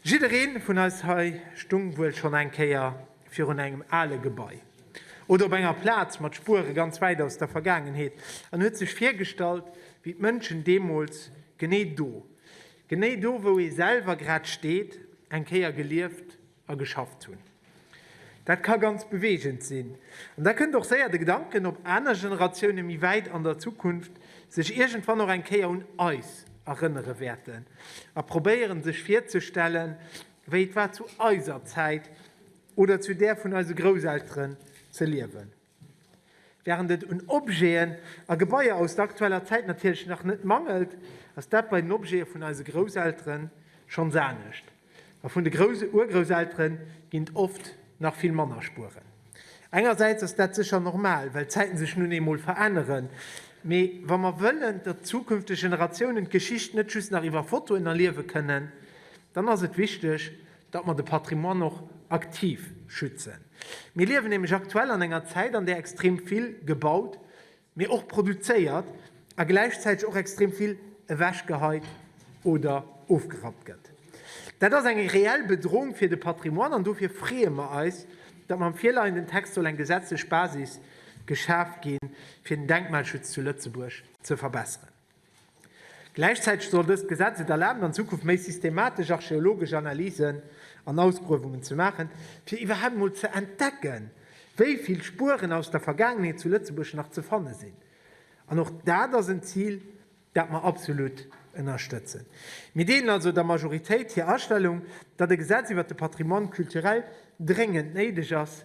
Jiddereen vun eis hei stung wuel schon eng Kéier virun engem ale Gebai oder op enger Plaz mat Spuere ganz wäit aus der Vergaangenheet an huet sech virgestallt wéi d'Mënschen deemols genee do, genee do wou ee selwer grad steet, eng Kéier gelieft a geschafft hunn. Dat ka ganz beweegend sinn. An da kënnt och séier de Gedanken op, aner Generatioune méi wäit an der Zukunft sech iergendwann och eng Kéier un eis erënnere wäerten a probéieren, sech virzestellen, wéi et war zu eiser Zäit oder zu där vun eise Grousselteren ze liewen. Wärend et un Objeten a Gebaier aus der aktueller Zäit natierlech nach net mangelt, ass dat bei den Objete vun eise Grousseltere schonns anescht. A vun de Grouss-Urgrousseltere ginn et oft nach vill manner Spueren. Engersäits ass dat sécher normal, well d'Zäite sech nun eemol veränneren. Mee wa mer wëllen, datt zukünfteg Generatiounen d'Geschicht net just nach iwwer Fotoen erliewe kënnen, dann ass et wichteg, datt mer de Patrimoine och aktiv schützen. Mir liewen nämlech aktuell an enger Zäit, an där extrem vill gebaut, mee och produzéiert a gläichzäiteg och extrem vill ewechgeheit oder ofgerappt gëtt. Dat ass eng reell Bedrohung fir de Patrimoine an dofir freeë mer eis, datt mam virleienden Text soll eng gesetzlech Basis geschaf ginn, fir den Denkmalschutz zu Lëtzebuerg ze verbesseren. Gläichzäiteg soll dëst Gesetz et erlaben, an Zukunft méi systematesch archeologesch Analysen an Ausgruewungen ze maachen, fir iwwerhaapt emol ze entdecken, wéi vill Spueren aus der Vergaangenheet zu Lëtzebuerg nach ze fanne sinn. An och dat ass en Zil, dat mer absolut ënnerstëtzen. Mir deelen also der Majoritéit hir Astellung, datt e Gesetz iwwert de Patrimoine culturel dréngend néideg ass.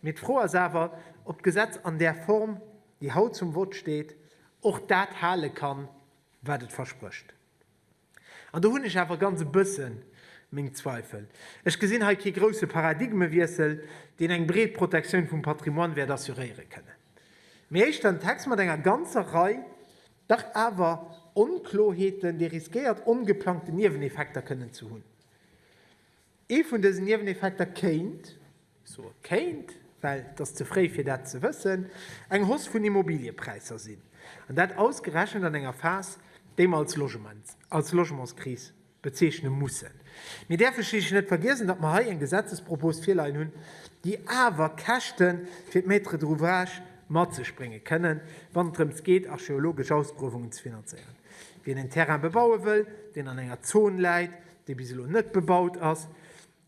Mee d'Fro ass awer, ob d'Gesetz an där Form déi haut zum Vott steet, och dat hale kann, wat et versprécht. An do hunn ech awer ganz e bësse meng Zweifel. Ech gesinn hei kee grouse Paradigmewiessel, deen eng breet Protektioun vum Patrimoine wäert assuréiere kënnen, mee éischter en Text mat enger ganzer Rei dach awer Onkloheeten, dee riskéiert ongeplangten Nieweneffekter kënnen ze hunn. Ee vun dësen Nieweneffekter kéint, ech soe kéint, well et ass ze fréi fir dat ze wëssen, eng Hausse vun Immobiliëpräisser sinn, an dat ausgerechent an enger Phas, déi mer als Logementskris bezeechne mussen. Mir däerfe schliisslech net vergiessen, datt mer hei eng Gesetzespropos virleien hunn, déi awer Käschte fir d'Maître d'ouvrage mat sech brénge kënnen, wann et drëms geet archeologesch Ausgruewungen ze finanzéieren. Wien en Terrain bebaue wëll, deen an enger Zone läit, dee bis elo net bebaut ass,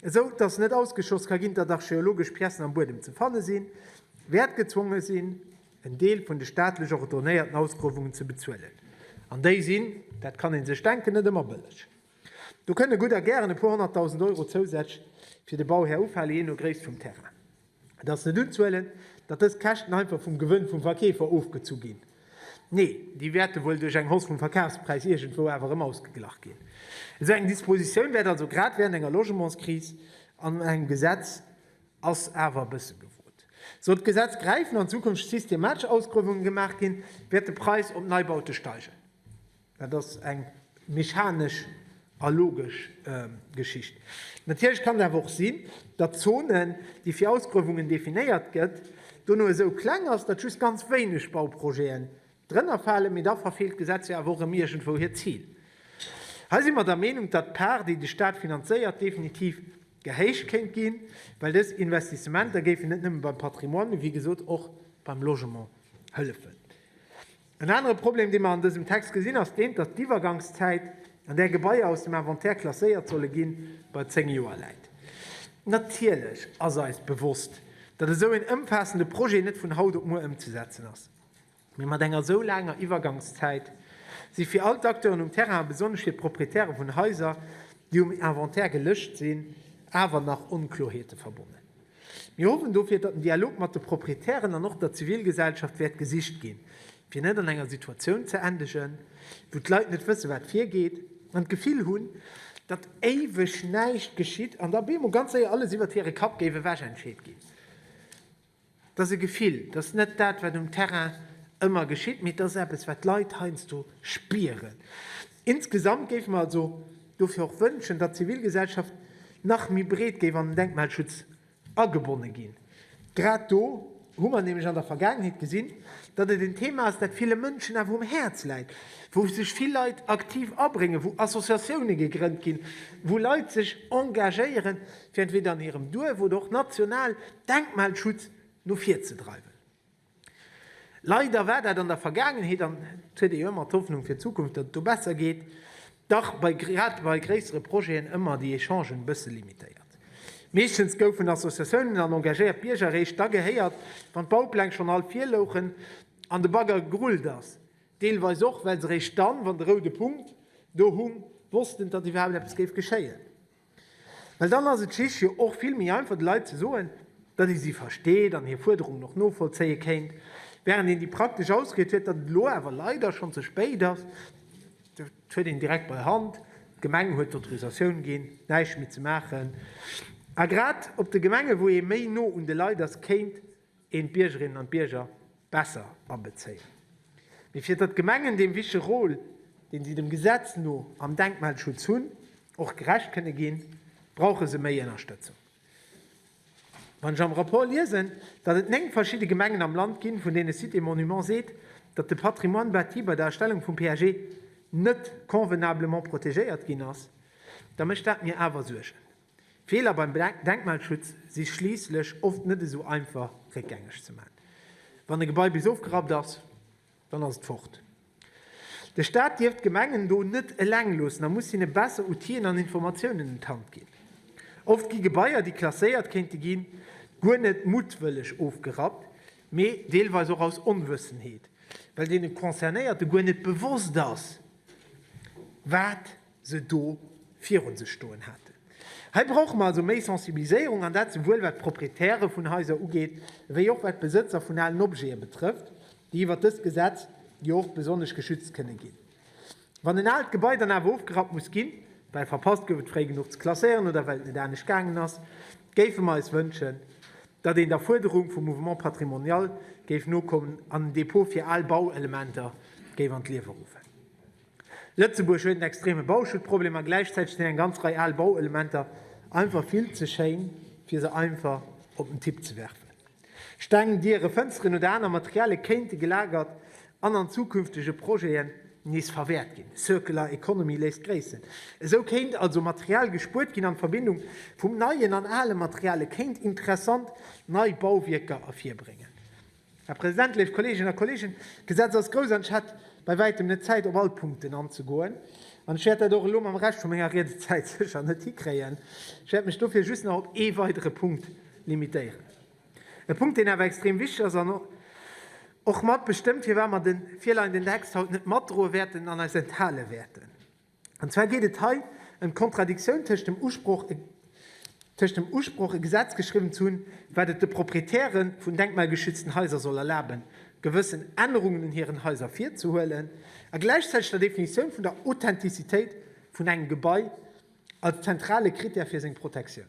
esou datt net ausgeschloss ka ginn, datt archeologesch Piècen am Buedem ze fanne sinn, wäert gezwonge sinn, en Deel vun de staatlech ordonéierten Ausgruewungen ze bezuelen. An déi sinn, dat kann ee sech denken, net ëmmer bëlleg. Do kënne gutt a gären e puer honnertdausend Euro zousätzlech fir de Bauhär ufalen, jee no Gréisst vum Terrain. Et ass net unzehuelen, datt dës Käschten einfach vum Gewënn vum Verkeefer ofgezu ginn. Nee, déi wäerte wuel duerch eng Hausse vum Verkafspräis iergendwou awer erëm ausgeglach ginn. Esou eng Dispositioun wäert also grad während enger Logementskris an engem Gesetz ass awer e bësse gefrot. Sollt d'Gesetz gräifen an Zukunft systematesch Ausgruewungen gemaach ginn, wäert de Präis op Neibaute steigen. Dat ass eng mechanesch a logesch Geschicht. Natierlech kann et awer och sinn, datt Zonen, déi fir Ausgruewungen definéiert gëtt, dono esou kleng ass, datt just ganz wéineg Bauprojeten drënner falen, mee da verfeelt d'Gesetz jo awer och erëm iergendwou hiert Zil. Hei si mer der Meenung, datt d'Part, déi de Staat finanzéiert, definitiv gehéicht kéint ginn, well dës Investissementer géifen net nëmme beim Patrimoine, mee wéi gesot och beim Logement hëllefen. En anere Problem, dee mer an dësem Text gesinn, ass deen, datt d'Iwwergangszäit, an där Gebaier aus dem Inventaire klasséiert solle ginn, bei zéng Joer läit. Natierlech ass eis bewosst, datt esou een ëmfaassende Projet net vun haut op muer ëmzesetzen ass. Mee mat enger esou laanger Iwwergangszäit si fir all d'Acteuren um Terrain, a besonnesch fir d'Proprietäre vun Haiser, déi um Inventaire gelëscht sinn, awer nach Onkloerheete verbonnen. Mir hoffen dofir, datt den Dialog mat de Proprietären an och der Zivilgesellschaft wäert gesicht ginn, fir net an enger Situatioun ze endegen, wou d'Leit net wëssen, wat virgeet an d'Gefill hunn, datt éiweg näischt geschitt an da op eemol ganz séier alles iwwert hire Kapp géif ewech entscheet ginn. Et ass e Gefill, et ass net dat, wat um Terrain ëmmer geschitt, mee et ass eppes, wat d'Leit heiansdo spieren. Insgesamt géife mer also dofir och wënschen, datt d'Zivilgesellschaft nach méi breet géif an den Denkmalschutz agebonne ginn. Grad do hu mer nämlech an der Vergaangenheet gesinn, datt et en Thema ass, dat ville Mënschen awer um Häerz läit, wou sech vill Leit aktiv abréngen, wou Associatioune gegrënnt ginn, wou Leit sech engagéiere fir entweder an hirem Duerf oder och national Denkmalschutz no vir ze dreiwen. Leider war dat an der Vergaangenheet, an et huet ee jo ëmmer d'Hoffnung fir d'Zukunft, datt et do besser geet, dach bei grad bei gréissere Projeten ëmmer déi Echangen e bësse limitéiert. Meeschtens goufen Associatiounen an engagéiert Bierger eréischt da gehéiert, wann d'Baupläng schonn all virlouchen an de Bagger gerullt ass, deelweis och well se eréischt dann, wann de roude Punkt do hung, wossten, datt iwwerhaapt eppes géif geschéien. Well dann ass et schich jo och vill méi einfach de Leit ze soen, datt ee si versteet an hir Fuerderungen och novollzéie kéint, während een déi praktesch Ausried huet, datt et elo awer leider schonn ze spéit ass. Dat huet een direkt bei Hand, d'Gemeng huet d'Autorisatioun ginn, näischt méi ze maachen. A grad op de Gemenge wou ee méi no un de Leit ass, kéint een d'Biergerinnen an d'Bierger besser abezéien, mee fir datt d'Gemengen deem wichtege Rôle, deen si dem Gesetz no am Denkmalschutz hunn, och gerecht kënne ginn, brauche se méi Ënnerstëtzung. Wann ech am Rapport liesen, datt et néng verschidde Gemengen am Land ginn, vun deene Sites et Monuments seet, datt de Patrimoine bâti bei der Erstellung vum PAG net convenablement protegéiert ginn ass, da mécht dat mir awer Suergen. Feeler beim Denkmalschutz si schliisslech oft net esou einfach réckgängeg ze maachen. Wann e Gebai bis ofgerappt ass, dann ass et fort. De Staat dierf d'Gemengen do net eleng loossen a muss hinne besser Outill'en an Informatiounen un d'Hand ginn. Oft gi Gebaier, déi klasséiert kéinte ginn, guer net muttwëlleg ofgerappt, mee deelweis och aus Onwëssenheet, well deene Concernéierte guer net bewosst ass, wat se do virun sech stoen haten. Hei brauche mer also méi Sensibiliséierung, an dat souwuel wat d'Proprietäre vun Haiser ugeet, wéi och wat d'Besëtzer vun alen Objete betrëfft, déi iwwert dëst Gesetz jo och besonnesch geschützt kënne ginn. Wann en aalt Gebai dann awer ofgerappt muss ginn, well verpasst gouf et fréi genuch ze klasséieren oder well et net anescht gaangen ass, géife mer eis wënschen, datt een der Fuerderung vum Mouvement patrimonial géif nokommen an en Depot fir al Bauelementer géif an d'Liewe ruffen. Lëtzebuerg huet en extreme Bauschuttproblem a gläichzäiteg sinn eng ganz Rei al Bauelementer einfach vill ze schéin, fir se einfach op den Tipp ze werfen. Steng, Diere, Fënsteren oder aner Materialie kéinte gelagert an an zukünftege Projeten nees verwäert ginn. Circular Economy léisst gréissen. Esou kéint also Material gespuert ginn an d'Verbindung vum neien an ale Materialie kéint interessant nei Bauwierker ervirbréngen. Här President, léif Kolleeginnen a Kolleegen, d'Gesetz ass grouss an ech hat bei wäitem net Zäit, op all Punkten anzegoen. An ech wäert dat och elo mam Rescht vu menger Riedezäit sécher net hikréien. Ech wäert mech dofir just nach op ee weidere Punkt limitéieren. E Punkt, deen awer extrem wichtig ass an och mat bestëmmt, firwat mer de virleienden Text haut net matdroe wäerten an eis enthale wäerten. An zwar geet et hei ëm d'Kontradiktioun tëscht dem Usproch, tëscht dem Usproch e Gesetz geschriwwen ze hunn, wat et de Proprietäre vun denkmalgeschützten Haiser soll erlaben, gewëssen Ännerungen un hiren Haiser virzehuelen, a gläichzäiteg der Definitioun vun der Authentizitéit vun engem Gebai als zentrale Krittär fir seng Protektioun.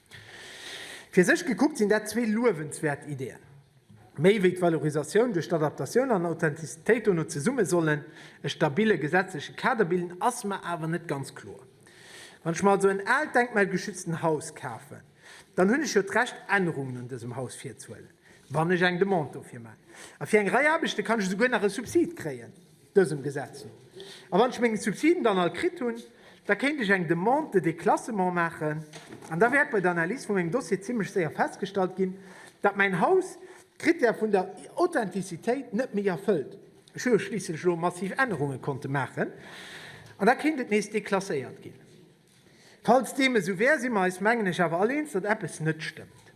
Fir sech gekuckt sinn dat zwee luewenswäert Ideeën. Méi wéi d'Valorisatioun duerch d'Adaptatioun an Authentizitéit dono zesumme sollen e stabille gesetzleche Kader bilden, ass mer awer net ganz kloer. Wann ech mer also en aalt denkmalgeschützten Haus kafen, dann hunn ech jo d'Recht Ännerungen un dësem Haus virzuhuelen, wann ech eng Demande dofir maachen. A fir eng Rei Aarbechte kann ech esouguer nach e Subsid kréien. dësem Gesetz no. A wann ech meng Subsiden dann all kritt hunn, da kéint ech eng Demande de déclassement maachen an da wäert bei der Analys vu mengem Dossier zimmlech séier festgestallt ginn, datt mäin Haus d'Krittär vun der Authentizitéit net méi erfëllt. Ech hu jo schliisslech elo massiv Ännerunge konnte maachen an da kéint et nees déclasséiert ginn. Falls deem esou wär, si mer eis, mengen ech, awer all eens, datt eppes net stëmmt.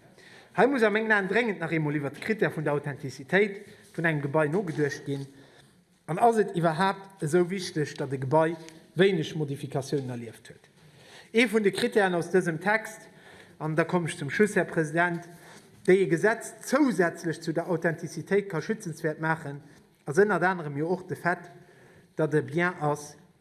Hei muss a mengen Aen dréngend nach eemol iwwert de Critère vun der Authentizitéit vun engem Gebai nogeduecht ginn. An ass et iwwerhaapt esou wichteg, datt e Gebai wéineg Modifikatiounen erlieft huet? Ee vun de Critèren aus dësem Text, an da kommen ech zum Schluss, Här President, déi e Gesetz zousätzlech zu der Authentizitéit ka schützenswäert maachen, ass ënnert anerem jo och de Fait, datt e Bien ass,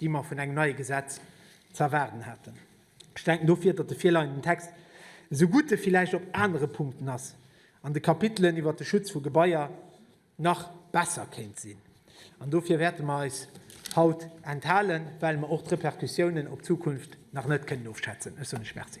déi mer vun engem neie Gesetz ze erwaarden haten. Ech denken dofir, datt de virleienden Text esou gutt e villäicht op anere Punkten ass an de Kapitelen iwwert de Schutz vu Gebaier nach besser kéint sinn. An dofir wäerte mer eis haut enthalen, well mer och d'Repercussiounen op d'Zukunft nach net kënnen ofschätzen. Ech soen lech Merci.